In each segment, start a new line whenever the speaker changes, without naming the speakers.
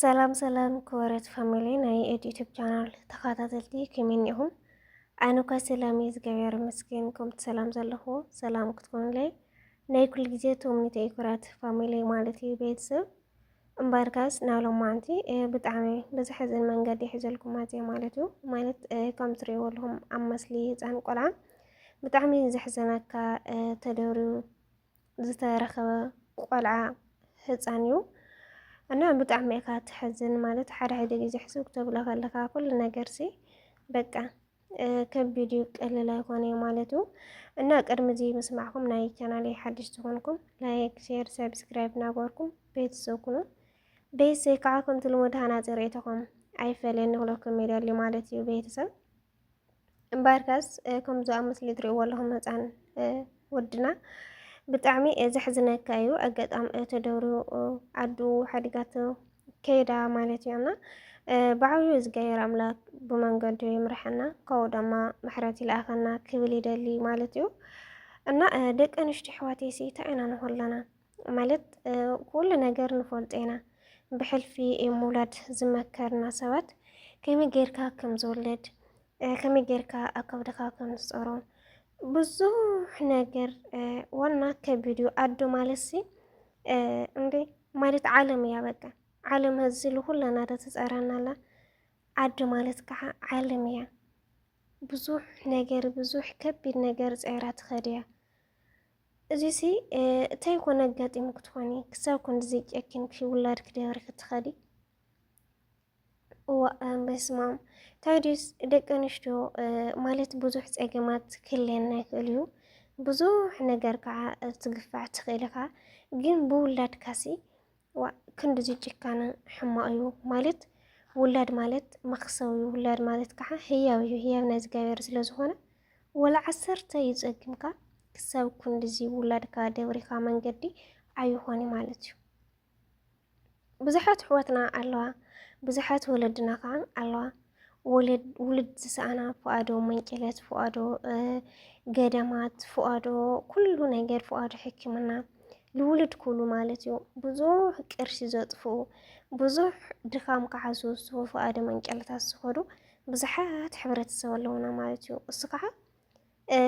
ሰላም ሰላም ክበረት ፋሚሊ ናይ ኤድ ዩቱብ ቻናል ተኸታተልቲ ከመይ እኒኹም? ኣነ እኳ ሰላም እዩ ዝገበረ መስገን ከምቲ ሰላም ዘለኹ ሰላም ክትኮኑለይ ናይ ኩሉ ግዜ ተምኒተ እዩ ክብረት ፋሚሊ ማለት እዩ ቤተሰብ እምበርካስ ናብ ሎማዓንቲ ብጣዕሚ ብዝሕዝን መንገዲ ይሕዘልኩም ኣዜ ማለት እዩ ማለት ከም ትሪእዎ ኣለኹም ኣብ መስሊ ህፃን ቆልዓ ብጣዕሚ ዘሕዘነካ ተደርዩ ዝተረኸበ ቆልዓ ህፃን እዩ እና ብጣዕሚ እካ ትሕዝን ማለት ሓደ ሓደ ግዜ ሕስብ ክተብሎ ከለካ ኩሉ ነገር ሲ በቃ ከቢድ እዩ ቀልል ኣይኮነ ማለት እዩ እና ቅድሚ እዚ ምስማዕኩም ናይ ቻናል ሓድሽ ዝኾንኩም ላይክ ሼር ሰብስክራይብ ናበርኩም ቤተሰብ ኩኑ ቤተሰብ ከዓ ከምቲ ልሙድ ሃናፂ ርእይቶኹም ኣይፈለየኒ ክለኩም ይደሊ ማለት እዩ ቤተሰብ እምበኣርከስ ከምዚ ኣብ ምስሊ ትሪእዎ ኣለኹም ህፃን ወድና ብጣዕሚ ዘሕዝነካ እዩ። ኣጋጣሚ ተደብሩ ዓዱ ሓዲጋቶ ከይዳ ማለት እዩ እና ብዓብዩ እግዚኣብሔር ኣምላክ ብመንገዱ ይምርሐና ካብኡ ድማ ምሕረት ይልኣኸና ክብል ይደሊ ማለት እዩ እና ደቂ ኣንስትዮ ኣሕዋተይሲ እንታይ ኢና ንኾለና ማለት ኩሉ ነገር ንፈልጦ ኢና ብሕልፊ ምውላድ ዝመከርና ሰባት ከመይ ጌርካ ከም ዝውለድ ከመይ ጌርካ ኣብ ከብድኻ ከም ዝፀሮ ብዙሕ ነገር ዋና ከቢድ እዩ ኣዶ ማለት ሲ እንዴ ማለት ዓለም እያ በቃ ዓለም ህዚ ልኩላና ዶ ትፀረና ኣላ ኣዶ ማለት ከዓ ዓለም እያ ብዙሕ ነገር ብዙሕ ከቢድ ነገር ፀይራ ትኸድ እያ እዚሲ እታይ ኮን ኣጋጢሙ ክትኾኒ ክሳብ ክንድዚ ጨኪንኪ ውላድ ክደብሪ ክትኸዲ እዋእ በስማም ታዲስ ደቂ ኣንስትዮ ማለት ብዙሕ ፀገማት ክህልየና ይኽእል እዩ ብዙሕ ነገር ከዓ ትግፋዕ ትኽእል ኢኻ ግን ብውላድካሲ ዋእ ክንድዚ ጭካነ ሕማቕ እዩ ማለት ውላድ ማለት መኽሰብ እዩ ውላድ ማለት ከዓ ህያው እዩ ህያብ ናይ እግዚኣብሔር ስለ ዝኾነ ወላ ዓሰርተ እዩ ጸጊምካ ክሳብ ክንድዚ ውላድካ ደብሪኻ መንገዲ ኣይኾነ ማለት እዩ ብዙሓት ኣሕዋትና ኣለዋ ብዙሓት ወለድና ከዓ ኣለዋ ውሉድ ዝሰኣና ፍኣዶ መንጭለት ፍኣዶ ገደማት ፍኣዶ ኩሉ ነገር ፍኣዶ ሕክምና ልውሉድ ኩሉ ማለት እዩ ብዙሕ ቅርሺ ዘጥፍኡ ብዙሕ ድኻም ክዓሱ ፍኣዶ መንጨለታት ዝኸዱ ብዙሓት ሕብረተሰብ ኣለውና ማለት እዩ እሱ ከዓ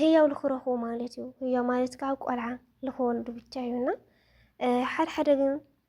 ህያው ልክረኽቡ ማለት እዩ ህያው ማለት ከዓ ቆልዓ ልክወልዱ ብቻ እዩና ሓድሓደ ግን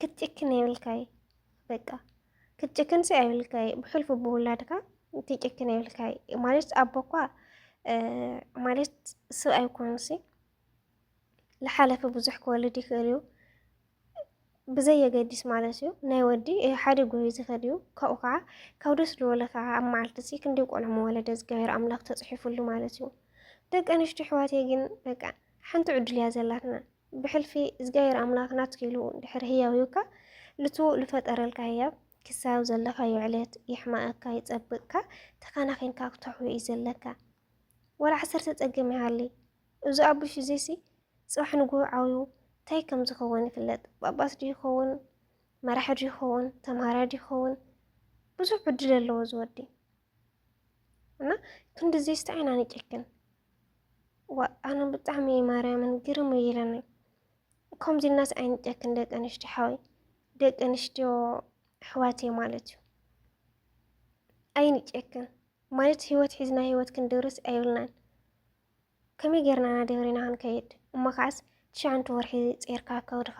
ክትጭክን የብልካይ በቃ ክትጭክን ሲ ኣይብልካይ ብሕልፉ ብውላድካ ትጭክን የብልካይ ማለት ኣቦ እኳ ማለት ስብ ኣይኮኑ ሲ ዝሓለፈ ብዙሕ ክወልድ ይኽእል እዩ ብዘየገዲስ ማለት እዩ ናይ ወዲ ሓደ ጎዩ ዝኸድ እዩ ካብኡ ከዓ ካብ ደስ ዝበለ ከዓ ኣብ መዓልቲ ሲ ክንደይ ቆልዑ መወለደ እግዚኣብሔር ኣምላኽ ተፅሒፉሉ ማለት እዩ ደቂ ኣንስትዮ ኣሕዋተይ ግን በቃ ሓንቲ ዕድል እያ ዘላትና ብሕልፊ እዝጋሔር ኣምላክ ናትኪ ኢሉ ድሕሪ ህያው ሂብካ ልቱ ልፈጠረልካ ህያብ ክሳብ ዘለካዮ ዕለት ይሕማኣካ ይጸብቅካ ተካናኪንካ ክተሕውዮ እዩ ዘለካ ወላ ዓሰርተ ጸገም ይሃሊ እዚ ኣቡሽ እዚሲ ጽባሕ ንግሆ ዓውዩ እንታይ ከም ዝኸውን ይፍለጥ ጳጳስ ድዩ ይኸውን መራሒ ድዩ ይኸውን ተምሃራይ ድዩ ይኸውን ብዙሕ ዕድል ኣለዎ ዝወዲ እና ክንድዚ ስታይ ኢና ንጨክን ዋእ ኣነ ብጣዕሚ እዩ ማርያምን ግርም እዩ ኢለኒ ከምዚ ናስ ኣይንጨክን ደቂ ኣንስትዮ ሓወይ ደቂ ኣንስትዮ ኣሕዋት እየ ማለት እዩ ኣይንጨክን ማለት ህይወት ሒዝና ህይወት ክንድርስ ኣይብልናን ከመይ ጌርና ኢና ደብሪና ክንከይድ እሞ ከዓስ ትሽዓንተ ወርሒ ጼርካ ከብድኻ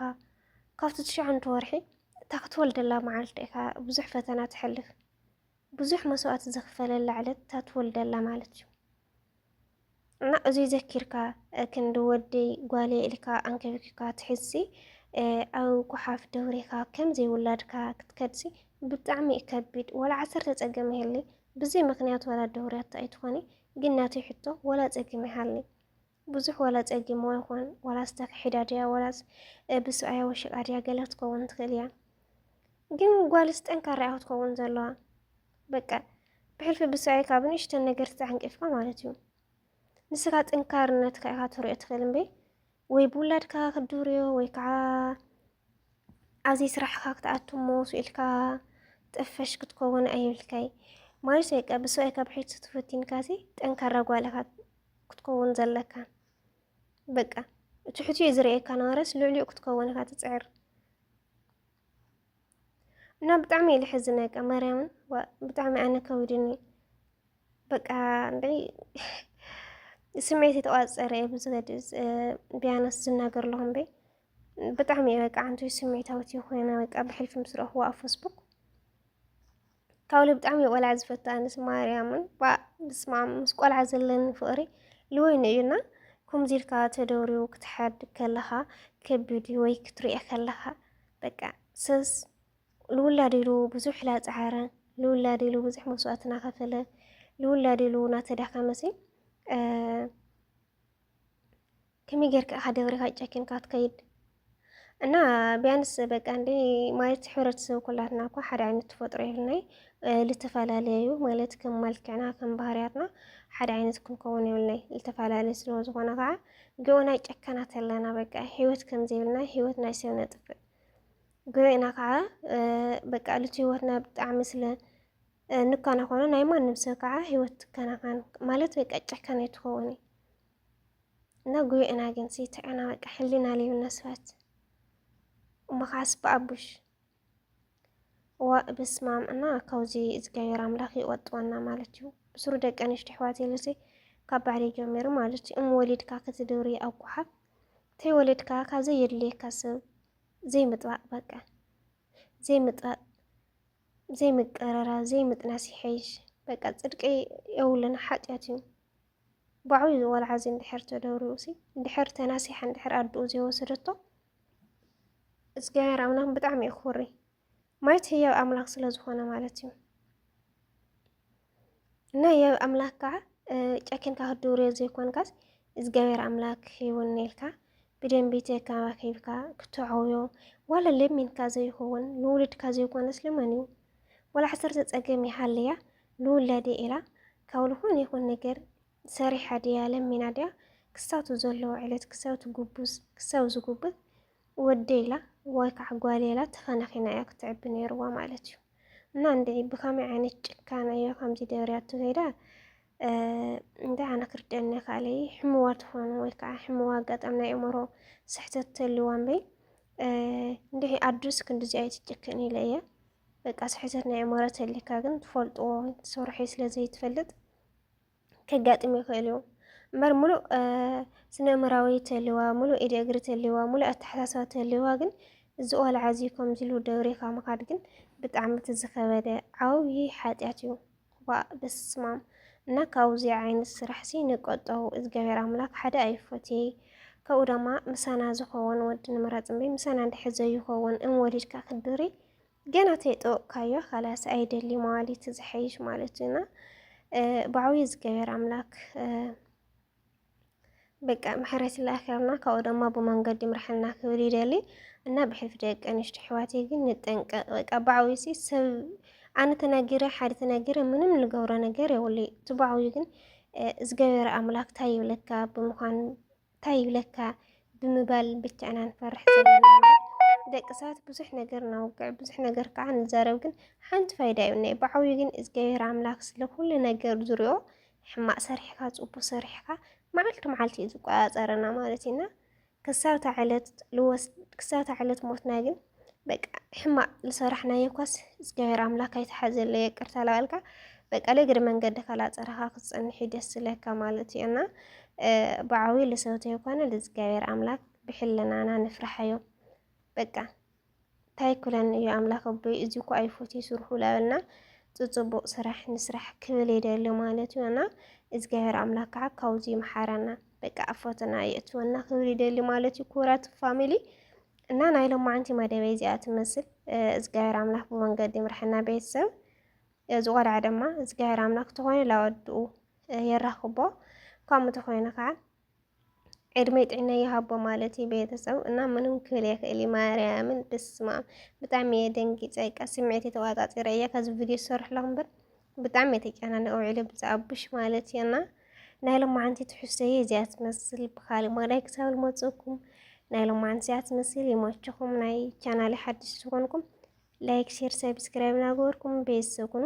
ካብቲ ትሽዓንተ ወርሒ እታ ክትወልደላ መዓልቲ ኢኻ ብዙሕ ፈተና ትሕልፍ ብዙሕ መስዋእቲ ዘኽፈለላ ዕለት እታ ትወልደላ ማለት እዩ እና እዙይ ዘኪርካ ክንዲ ወደይ ጓልየ ኢልካ ኣንከብኪካ ትሕዝሲ ኣብ ጉሓፍ ደብሪካ ከም ዘይውላድካ ክትከድሲ ብጣዕሚ እዩ ከቢድ ወላ ዓሰርተ ፀገም ይህሊ ብዘይ ምክንያት ወላ ደውርያቶ ኣይትኾኒ ግን ናተይ ሕቶ ወላ ፀገም ይሃሊ ብዙሕ ዋላ ጸጊምዋ ይኹን ዋላስ ተክሒዳ ድያ ዋላስ ብስብኣያ ወሽቃ ድያ ገለ ክትከውን ትኽእል እያ። ግን ጓልስ ጠንካራ እያ ክትከውን ዘለዋ። በቃ ብሕልፊ ብስብኣይ ካብ ንእሽተን ነገር ተዓንቂፍካ ማለት እዩ። ንስኻ ጥንካርነትካ ኢኻ ትሪኦ ትኽእል እምበይ ወይ ብውላድካ ክትድርዮ ወይ ከዓ ኣብዚ ስራሕካ ክትኣቱ እሞ ስኢልካ ጥፈሽ ክትከውን ኣይብልካይ ማይ ሰይቀ ብሰብኣይ ካብ ሒት ስትፈቲንካሲ ጠንካራ ጓልኻ ክትከውን ዘለካ በቃ ትሕቲ እዩ ዝርእየካ ነበረስ ልዕሊኡ ክትከውን ኢኻ ትፅዕር እና ብጣዕሚ እዩ ልሕዝነ ቃ ማርያምን ብጣዕሚ ኣነ ከዊድኒ በቃ እንድዒ ስምዒት የተቋፀረ እየ ብዝኸድ ቢያነስ ዝናገር ኣለኹም በይ ብጣዕሚ እየ በቃ ዓንቱ ስሜታዊት እየ ኮይነ በቃ ብሕልፊ ምስ ረኽቦ ኣብ ፌስቡክ ካብለ ብጣዕሚ እየ ቆልዓ ዝፈቱ ኣነስ ማርያምን ብስማ ምስ ቆልዓ ዘለኒ ፍቕሪ ልወይኑ እዩና ከምዚ ኢልካ ተደውሪቡ ክትሓድ ከለኻ ከቢድ እዩ ወይ ክትሪኦ ከለኻ በቃ ሰስ ልውላድ ኢሉ ብዙሕ ላፀዓረ ልውላድ ኢሉ ብዙሕ መስዋእቲ ናኸፈለ ልውላድ ኢሉ ናተዳኸመሲ ከመይ ጌርካ ኢኻ ደብሪኻ ጨኪንካ ትከይድ እና ቢያንስ በቃ እንደ ማለት ሕብረተሰብ ኩላትና እኳ ሓደ ዓይነት ተፈጥሮ የብልናይ ልተፈላለዩ ማለት ከም መልክዕና ከም ባህርያትና ሓደ ዓይነት ክንከውን የብልናይ ልተፈላለዩ ስለ ዝኾነ ከዓ ግኡና ጨካናት ኣለና በቃ ህይወት ከም ዘይብልና ህይወት ናይ ሰብ ነጥፍእ ግኡና ከዓ በቃ ልቲ ህይወትና ብጣዕሚ ስለ እንከናኾኑ ናይ ማንም ሰብ ከዓ ህይወት ትከናኸን ማለት በቃ ጨካናይ ትኸውን እዩ እና ጉዮ ኢና ግን ሲትዕና በቃ ሕሊና ሊብና ስባት እሞኸዓስ ብኣቡሽ ዋእ በስማም እና ካብዚ እግዚኣብሔር ኣምላኽ ይቆጥወና ማለት እዩ ብስሩ ደቂ ኣንሽቲ ኣሕዋት የለሲ ካብ ባዕሪ ጀሚሩ ማለት እዩ እም ወሊድካ ክትድብሪ ኣብ ጓሓፍ ተይወለድካ ካብ ዘየድልየካ ሰብ ዘይምጥባቕ በቃ ዘይምጥባቕ ዘይምቅርራብ ዘይምጥናስ ይሐይሽ በቃ ፅድቂ የብሉን ሓጢኣት እዩ ባዕሉ ዝወልዓ'ዚ እንድሕር ተደብሪቡ'ሲ እንድሕር ተናሲሓ እንድሕር ኣዱኡ ዘይወሰደቶ እግዚኣብሔር ኣምላኽ ብጣዕሚ እዩ ክውሪ ማየት ህያብ ኣምላኽ ስለ ዝኾነ ማለት እዩ እና ህያብ ኣምላኽ ከዓ ጨኪንካ ክትድብርዮ ዘይኮንካስ እግዚኣብሔር ኣምላክ ይውን ኢልካ ብደንቢ ተከባኪብካ ክተዕውዮ ዋላ ለሚንካ ዘይኸውን ንውልድካ ዘይኮነስ ልመን እዩ ዋላ ዓሰርተ ፀገም ይሃልያ ንውላደይ ኢላ ካብ ልኾነ ይኹን ነገር ሰሪሓ ድያ ለሚና ድያ ክሳቱ ዘለዎ ዕለት ክሳቱ ጉቡዝ ክሳብ ዝጉብዝ ወደይ ኢላ ወይ ከዓ ጓልየ ኢላ ተኸናኺና እያ ክትዕቢ ነይርዋ ማለት እዩ እና እንድዒ ብኸመይ ዓይነት ጭካነ እዮ ከምዚ ደርያቶ ከይዳ እንታይ ኣነ ክርደኒ ካልይ ሕምዋ ትኾኑ ወይ ከዓ ሕምዋ ኣጋጣሚ ናይ እምሮ ስሕተት ተልዋ እምበይ እንድሒ ኣዱስ ክንዲዚ ኣይትጭክን ኢለ እየ በቃ ስሕተት ናይ ኣእምሮ ተሊካ ግን ትፈልጥዎ ወይ ትሰርሖ ስለ ዘይትፈልጥ ከጋጥም ይኽእል እዩ እምበር ሙሉእ ስነ ኣእምራዊ ተልዋ ሙሉእ ኢደ እግሪ ተልዋ ሙሉእ ኣተሓሳስባ ተልዋ ግን እዚ ቆልዓ እዚ ከምዚ ኢሉ ደብሪኻ ምኻድ ግን ብጣዕሚ እቲ ዝኸበደ ዓብዪ ሓጢኣት እዩ። ዋእ በስማም እና ካውዚ ዓይነት ስራሕሲ ንቆጠው እዝጋብሔር ኣምላክ ሓደ ኣይፎትይ ከብኡ ደማ ምሳና ዝኮወን ወዲ ንምረፅ እምበይ ምሳና እንድሕር ዘይኮወን እም ወሊድካ ክትድሪ ገና ተይጠወቅካዮ ካላስ ኣይደሊ መዋሊት ዝሐይሽ ማለት እና ባዕዊ እዝጋብሔር ኣምላክ በቃ ምሕረት ይላኣኸልና ካብኡ ደማ ብመንገዲ ምርሐና ክብል ይደሊ እና ብሕልፊ ደቂ ኣንሽቲ ሕዋተይ ግን ንጠንቀቅ በቃ ባዕዊሲ ሰብ ኣነ ተናጊረ ሓደ ተናጊረ ምንም ንገብሮ ነገር የብሉ እቲ ባዕዊ ግን እግዚኣብሔር ኣምላክ ታይ ይብለካ ብምዃን ታይ ይብለካ ብምባል ብቻ ኢና ንፈርሕ ዘለና ደቂ ሰባት ብዙሕ ነገር ናውግዕ ብዙሕ ነገር ከዓ ንዛረብ ግን ሓንቲ ፋይዳ የብልናይ ባዕዊ ግን እግዚኣብሔር ኣምላክ ስለ ኩሉ ነገር ዝሪኦ ሕማቅ ሰሪሕካ ጽቡቅ ሰሪሕካ መዓልቲ መዓልቲ እዩ ዝቆጻጸረና ማለት እዩ እና ክሳብ እታ ዕለት ልወስ ክሳብ እታ ዕለት ሞትና ግን በቃ ሕማቅ ዝሰራሕናዮ እኳስ እግዚኣብሔር ኣምላክ ኣይተሓዘለይ ይቅርታ ላበልካ በቃ ለግሪ መንገድካ ላፀረኻ ክትፀንሕ እዩ ደስ ዝለካ ማለት እዩ እና ብዓብዩ ልሰውተዮ ኮነ ልእግዚኣብሔር ኣምላክ ብሕልናና ንፍርሓዮ በቃ ታይ ኩለን እዩ ኣምላክ ኣቦይ እዚ እኮ ኣይፎትይ ስርሑ ላበልና ጽጽቡቅ ስራሕ ንስራሕ ክብል ይደሊ ማለት እዩ እና እግዚኣብሔር ኣምላክ ከዓ ካብዚ ይምሓረና በቃ ኣፎትና የእትወና ክብል ይደሊ ማለት እዩ ክቡራት ፋሚሊ እና ናይ ሎማዓንቲ መደበይ እዚኣ ትመስል እግዚኣብሔር ኣምላኽ ብመንገዲ ምርሕና ቤተሰብ እዚ ቆልዓ ድማ እግዚኣብሔር ኣምላኽ ተኾይኑ ላወድኡ የራኽቦ ካብኡ ተኾይኑ ከዓ ዕድመይ ጥዕናይ ይሃቦ ማለት እዩ ቤተሰብ እና ምንም ክብል የክእል ማርያምን ብስማም ብጣዕሚ እየ ደንጊፀ ቃ ስምዒት የተዋፃፂረ እየ ከዚ ቪድዮ ዝሰርሕለኹ እምበር ብጣዕሚ የተጨናነቀ ውዒለ ብዛኣቡሽ ማለት እዩ እና ናይ ሎማዓንቲ ትሕዝቶ እየ እዚኣ ትመስል ብካሊእ መዳይ ክሳብ ልመፅእኩም ናይ ሎማዓንቲ እዚኣ ትመስል ይመችኹም ናይ ቻናል ሓድሽ ዝኾንኩም ላይክ ሼር ሰብስክራይብ ናገበርኩም ቤተሰብ ኩኑ